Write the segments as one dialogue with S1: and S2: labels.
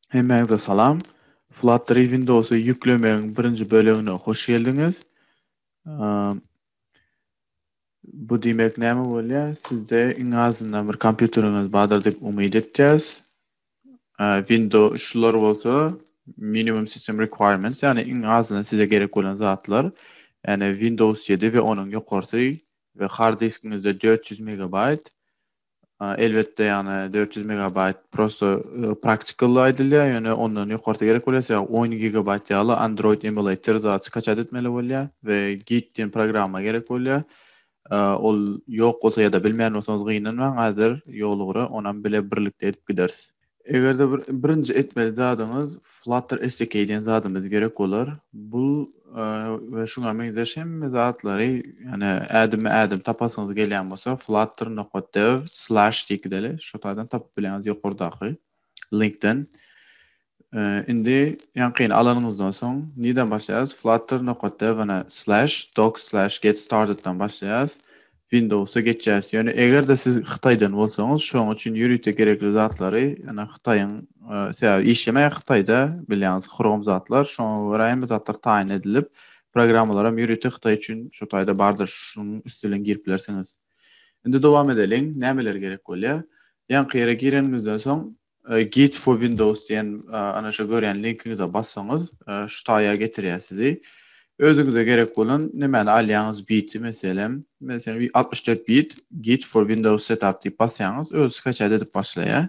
S1: Hemmäňize salam. Flutter Windowsy ýüklemegiň birinji bölegine hoş geldiňiz. Bu diýmek näme bolýar? Sizde iň azyndan bir kompýuteriňiz bardyr diýip umyt etýäs. Windows şular bolsa minimum system requirements yani iň azyndan size gerek bolan zatlar. Yani Windows 7 ve onun yukarısı ve hard diskinizde 400 MB. Elbette yani 400 MB prosto e, practical aýdylýar, yani ondan yukarısı gerek bolýar. 10 GB ýaly Android emulator zat skaçat etmeli bolýar ve Git diýen programma gerek bolýar. Ol ýok bolsa ýa-da bilmeýän bolsaňyz gynanmaň, häzir ýol ugra onam bile birlikde edip gideris. Eger-de bir birinji etmeli zadyňyz Flutter SDK diýen zadymyz gerek bolar. Bu we şuňa meňzeş hemme zatlary, ýagny ädimi ädim tapasyňyz gelýän bolsa flutter nokta dev slash diýip gideli, şo taýdan tapyp bileňiz ýokardaky. Linkden. Indi ýaňkyny alanyňyzdan soň nireden başlaýarys? Flutter nokat devine slash doc slash get startedden başlaýarys. Windowsa geçýäris. Ýöne eger-de siz Hytaýdan bolsaňyz, şoň üçin ýörite gerekli zatlary, ýöne Hytaýyň sebäbi işlemeýär Hytaýda, bilýäňiz, Chrome zatlar, şoňa görä hemme zatlar taýyn edilip, programmalar hem ýörite Hytaý üçin şu taýda bardyr, şunuň üsti bilen girip bilersiňiz. Indi dowam edeliň, nämeler gerek bolýar? Ýaňky ýere gireniňizden soň Git for Windows diýen ana şu görýän linkiňize bassaňyz şu taýa getirýär sizi. Özüňize gerek bolan nämäni alýaňyz biti meselem, men sen 64 bit Git for Windows setup diýip basýaňyz, öz skaçat edip başlaýar.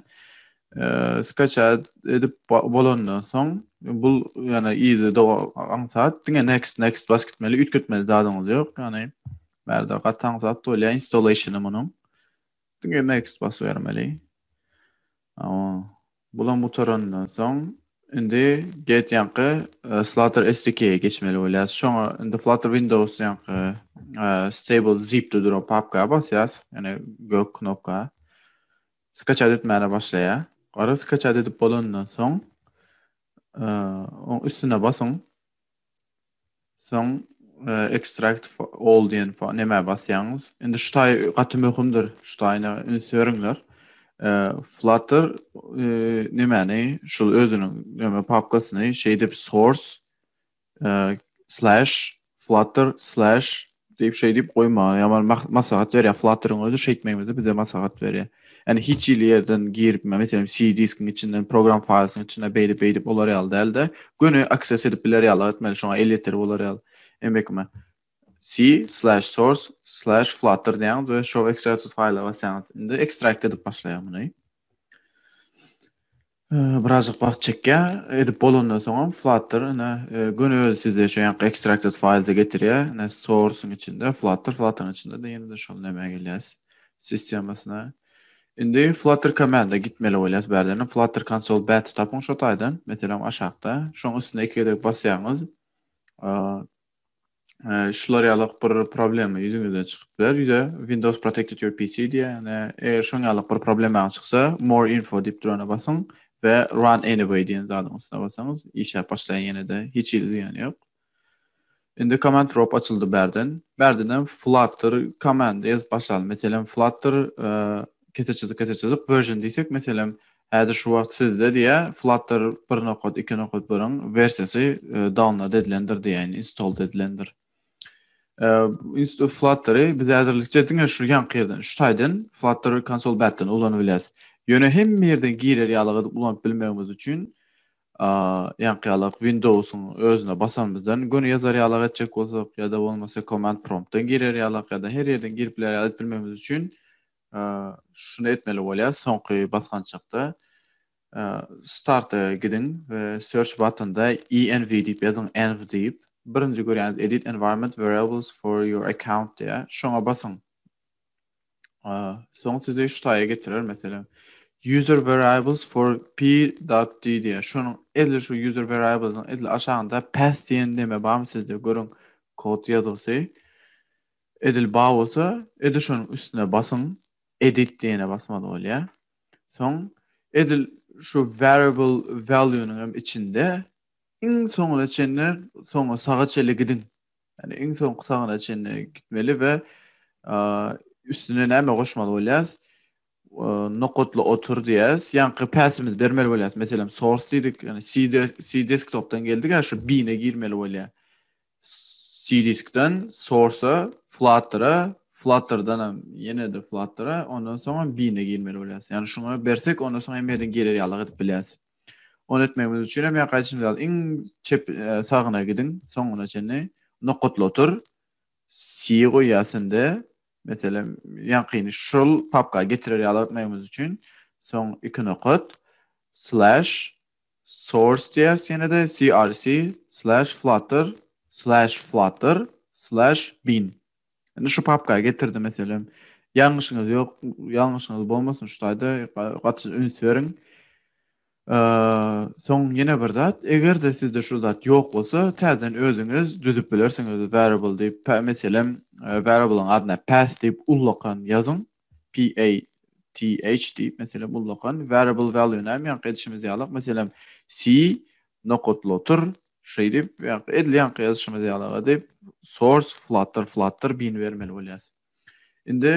S1: Skaçat edip bolandan soň bul ýana ýygy dowam aňsat diňe next next bas gitmeli, üýtgetmeli zadyňyz ýok. Ýani Bärde gataň zat bolýar installationy munuň. Diňe next basyp bermeli. Awa. Bulam gutarandan soň indi get ýanky e, Flutter SDK-ye geçmeli bolýar. Şoňa indi Flutter Windows ýanky e, stable zip-de duran papka basýas. Ýani gök knopka. Skaçat etmäne başlaýar. Gara skaçat edip bolandan soň e, oň üstüne basyň. Soň extract all diýen nämä basýaňyz. Indi şu taý gaty möhümdir. Şu taýyna üns beriňler. Flutter nemäni şul özüniň näme papkasyny şeýdip source slash flutter slash Diýip şeý diýip goýmaga ýaman maslahat berýär. Flutter-yň özi şeýtmegimizi bize maslahat berýär. Ýani hiç hili ýerden girip, meselem, C diskiň içinden program faýlysyň içine beýdip beýdip bolar ýaly dälde, göni access edip biler ýaly etmeli, şoňa el ýeter bolar ýaly. Emekme c/source/flutter diýýäňiz we show extracted file basýaňyz. Indi ekstrakt edip başlaýar muny. Birazajyk wagt çekýär. Edip bolandan soňam Flutter ine göni özi sizde şu ýanky extracted files-e getirýär. Ine source-yň içinde Flutter, Flutter-yň içinde-de ýene-de şol nämä gelýäs, sistemasyna. Indi Flutter command-e gitmeli bolýas bärden. Flutter console bat tapyň şo taýdan, meselem aşakda. Şoň üstüne iki gezek basýaňyz, Ee, şular ýaly bir problema ýüzüňizden çykyp biler. Ýüze Windows Protected Your PC diýýär. Ýani eger şoň ýaly bir problema çyksa, More Info diýip durana basyň we Run Anyway diýen zadyň üstüne basaňyz, işläp başlaýar ýene-de, hiç hili zyýany ýok. Indi Command Prop açyldy bärden. Bärden hem Flutter komanda ýazyp başlaly. Meselem, Flutter e, kese çyzyk, kese çyzyk version diýsek, meselem, Häzir şu wagt sizde diýä Flutter bir nokat iki nokat birin wersiýasy download edilendir diýäýin, installed edilendir. Flutter-y biz häzirlikçe diňe şu ýanky ýerden, şu taýdan Flutter konsol bätden ulanyp bilýäs. Ýöne hemme ýerden girer ýaly edip ulanyp bilmegimiz üçin ýanky ýaly Windows-yň özüne basanymyzdan göni ýazar ýaly etjek bolsak ýa-da bolmasa command prompt-dan girer ýaly ýa-da her ýerden girip biler ýaly edip bilmegimiz üçin şuny etmeli bolýar, soňky basgançakda starta gidiň we search buttonda env diýip ýazyň, env diýip, birinji görýäniz edit environment variables for your account diýýär, şoňa basyň. Soň sizi şu taýa getirer, meselem, user variables for p.d diýýär. Şonuň edil şu user variables-iň edil aşagynda path diýen neme barmy sizde? Görüň, kod ýazgysy. Edil bar bolsa, edil şonuň üstüne basyň, Edit diýene basmaly bolýar. Soň edil şu Variable Value-nyň hem içinde iň soňuna çenli soňa saga çenli gidiň. Ýagny iň soňky sagyna çenli gitmeli we üstüne näme goşmaly bolýarys? Nokatla otur diýýäris. Ýaňky päsimizi bermeli bolýarys. Meselem, source diýdik, ýagny C desktopdan geldik, şu bin-e girmeli bolýar. Cdiskden Source-a, Flutter-a, Flutter-danam ýene-de Flutter-a, ondan soňam Bean-e girmeli bolýas. Ýagny şuňa bersek, ondan soň hemme ýerden girer ýalyk edip bilýäs. Ony etmegimiz üçin hem ýa gaýdyşymyz ýaly iň çep sagyna gidiň, soňuna çenli nokatly otur. C goýýas indi. Meselem, ýaňkyny şol papka getirer ýalyk etmegimiz üçin soň iki nokat slash Source.js ýene-de CRC slash flutter slash flutter slash bin. Indi şu papka getirdi meselem. Ýalňyşyňyz ýok, ýalňyşyňyz bolmasyn şu taýda gaty üns beriň. Soň ýene bir zat, eger-de sizde şu zat ýok bolsa, täzeden özüňiz düzüp bilersiňiz variable diýip, meselem variable-yň adyna path diýip ullakan ýazyň, PATH diýip, meselem, ullakan variable value näme ýaňky edişimiz ýalak, meselem, C nokatly otur, şeýdip, ýaňky edil ýaňky ýazyşymyz ýalak edip, source flutter, flutter bin bermeli bolýas. Indi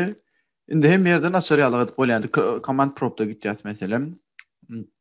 S1: indi hemme ýerde naçar ýalak edip bolýar. Indi command prompta gitýäs meselem.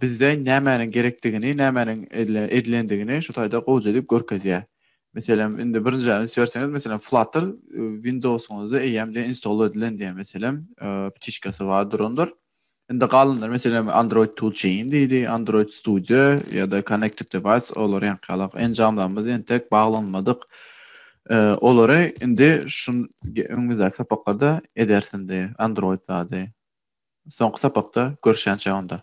S1: bizde nämäniň gerekdigini, nämäniň edilendigini şu taýda gowja edip görkezýär. Meselem, indi birinji üns berseňiz, meselem, Flutter Windows-yňyzda eýýämde install edilen diýen, meselem, ptişkasy bar durandyr. Indi galanlar meselem Android Toolchain diýdi, Android Studio ýa-da Connected Device olar ýaňkalak enjamlarymyz entek baglanmadyk. Olary indi şu öňümizdäki sapaklarda ederis indi Android zady. Soňky sapakda görüşýänçä onda.